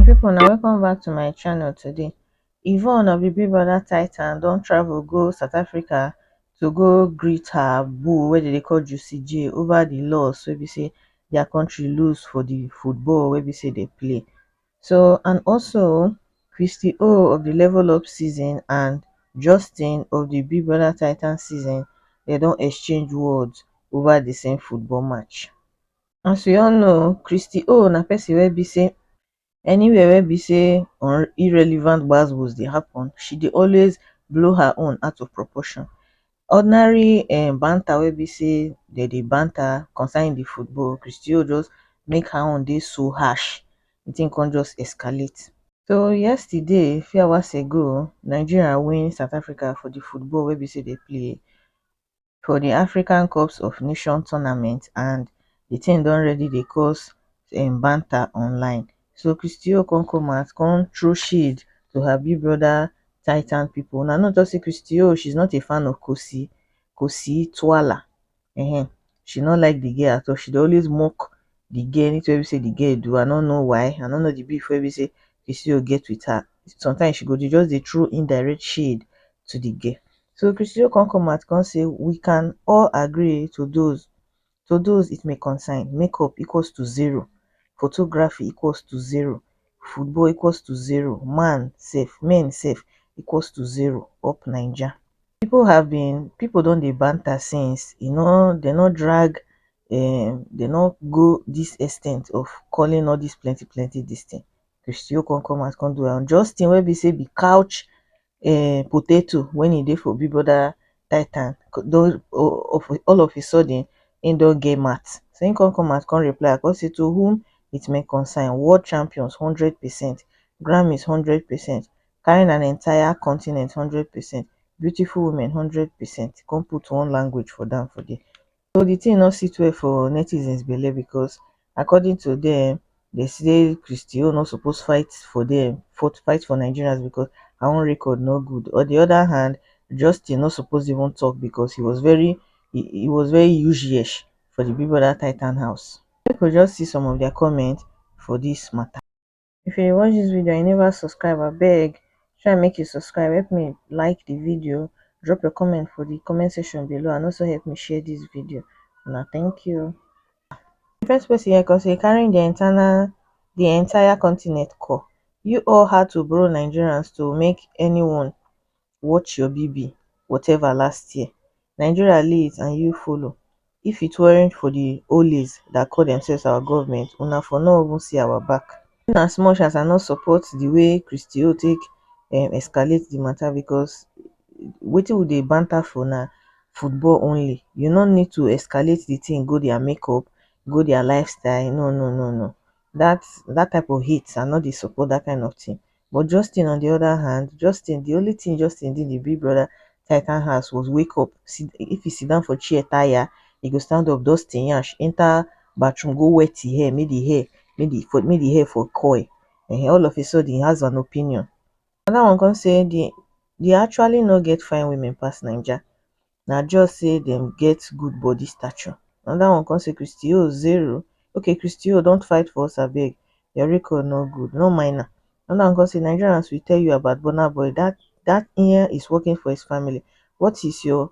people na welcome back to my channel today yvonne of the big brother titan don travel go south africa to go greet her boo wey dem dey call juicy j over the loss wey be say their country lose for the football wey be say dey play so and also christy o of di level up season and justin of di big brother titans season dem don exchange words ova di same football match as we all know christy o na pesin wey be say anywhere wey be say on irrelevant gbas gbos dey happun she dey always blow her own out of proportion ordinary um banter wey be sey dem dey banter concerning the football, Christy-O just make her own dey so harsh, the thing come just escalate. So yesterday, few hours ago, Nigeria win South Africa for the football wey be sey dem play for the African cups of nation tournament and the thing don already dey cause um banter online so christy o come come out come throw shade to her big brother titan people una no talk say christy o she's not a fan of kosi kosi twala um she no like the girl at all she dey always mock the girl anything wey be say the girl do i no know why i no know the beef wey be say christy o get with her sometimes she go dey just dey throw indirect shade to the girl so christy o come come out come say we can all agree to those to those it may concern make up equals to zero photography equals to zero football equals to zero man safe men safe equals to zero up naija people have been people don dey banter since you know they no drag um they no go this extent of calling all this plenty plenty this thing christy okonkoma come do am just thing wey be say be couch um potato when he dey for big brother titan don all of a sudden he don get mat so he come come out come reply am come say to whom it may concern world champions hundred percent Grammys hundred percent carrying an entire continent hundred percent beautiful women hundred percent he come put one language for down for there so di tin no sit well for netizens belle becos according to dem dem say christy o no suppose fight for dem fight for nigerians becos her own record no good on di oda hand justin no suppose even tok becos he was very he was very ushiesh for di big brother titan house make we just see some of dia comments for dis mata if you dey watch dis video and you never subscribe abeg try make you subscribe help me like the video drop your comment for the comment section below and also help me share dis video una thank you the first person here come say carrying the entire the entire continent ko you all had to borrow nigerians to make anyone watch your bb whatever last year nigeria leads and you follow if it weren't for the ollies that call themselves our government una for no even see our back in as much as i no support the way christio take um escalate the matter because wetin we dey banter for na football only you no need to escalate the thing go their makeup go their lifestyle no no no no that that type of heat i no dey support that kind of thing but Justin on the other hand Justin the only thing Justin did the big brother titan house was wake up sit, if he sit down for chair tire he go stand up dust him yansh enter bathroom go wet him hair make the hair make the for make the hair for coil eh all of a sudden he has an opinion another one come say the they actually no get fine women pass naija na just say dem get good body stature anoda one come say christy oz zero okay christy oz dont fight for us abeg your record no good no mind am anoda one come say nigerians will tell you about burna boy dat dat nya is working for his family what is your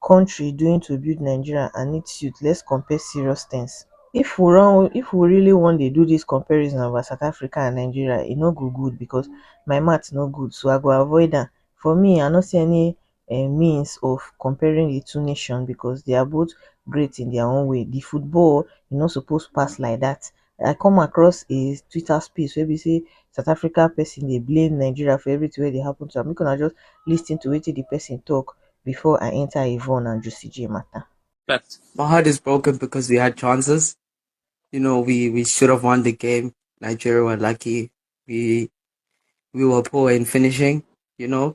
country doing to build nigeria and its youth let's compare serious things if we wan if we really wan dey do dis comparison about south africa and nigeria e no go good because my math no good so i go avoid am for me i no see any um means of comparing di two nations becos dia both great in dia own way di football e no suppose pass like dat i come across a twitter space wey be say south africa pesin dey blame nigeria for everytin wey dey happen to am make una just lis ten to wetin di pesin tok before i enta yvonne and jussy jay mata But my heart is broken because we had chances. You know, we, we should have won the game. Nigeria were lucky. We we were poor in finishing, you know.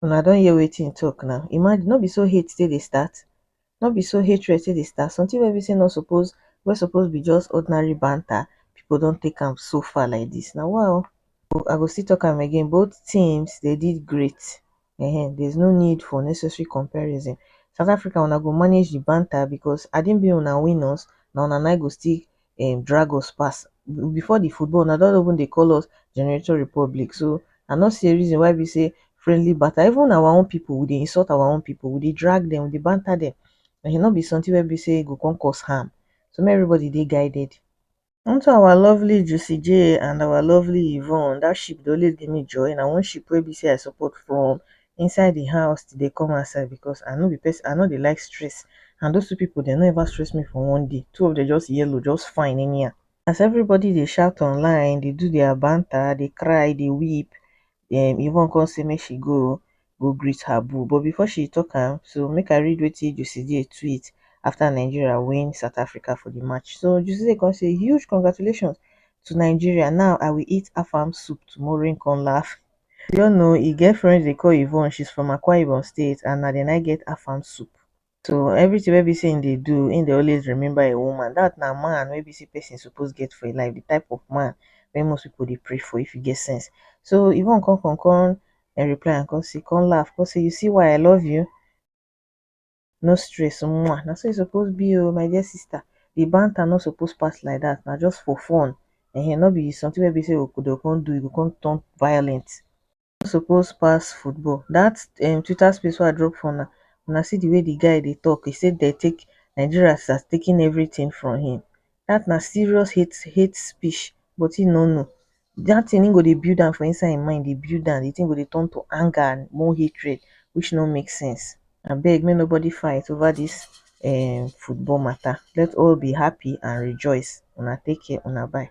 Una don hear wetin he talk now. Imagine, no be so hate take dey start? No be so hatred take dey start? Something wey be say no suppose, wey suppose be just ordinary banter, people don take am so far like this. Na wa o. I go still talk am again, both teams they did great. Ehen, there's no need for unnecessary comparison. South Africa, una go manage the banter because had it been una win us, na una na go still um drag us pass before the football una don even dey call us generator republic so i no see a reason why be say friendly banter even our own people we dey insult our own people we dey drag them we dey banter them and e no be something wey be say e go come cause harm so make everybody dey guided unto our lovely Juicy J and our lovely Yvonne that ship dey always give me joy na one ship wey be say i support from inside the house till dey come outside because I no be person I no dey like stress and those two people dem no ever stress me for one day two of them just yellow just fine anyhow as everybody dey shout online dey do their banter dey cry dey weep um Yvonne come say make she go go greet her boo but before she talk am so make I read wetin Joceday tweet after Nigeria win South Africa for the match so Joceday come say huge congratulations to Nigeria now I will eat afam soup tomorrow him come laugh you no know e get friend wey dey call yvonne she's from akwa ibom state and na there naim get afang soup so everything wey be say him dey do him dey always remember him woman that na man wey be say person suppose get for him life the type of man wey most people dey pray for if e get sense so yvonne come come come reply am come say come laugh come say you see why i love you no stress mwah na so e suppose be oo my dear sister de banter no suppose pass like dat na just for fun um no be something wey be sey dey go come do e go come turn violent no suppose pass football dat um twitter space wey I drop for una, una see de way de guy dey talk e sey dey take Nigeria has taken everything from him dat na serious hate hate speech but him no know dat thing, e go dey build am for inside im mind, dey build am, di thing go dey turn to anger and more hatred which no make sense. Abeg make nobody fight over dis um football matter, let all be happy and rejoice, una take care, una bye.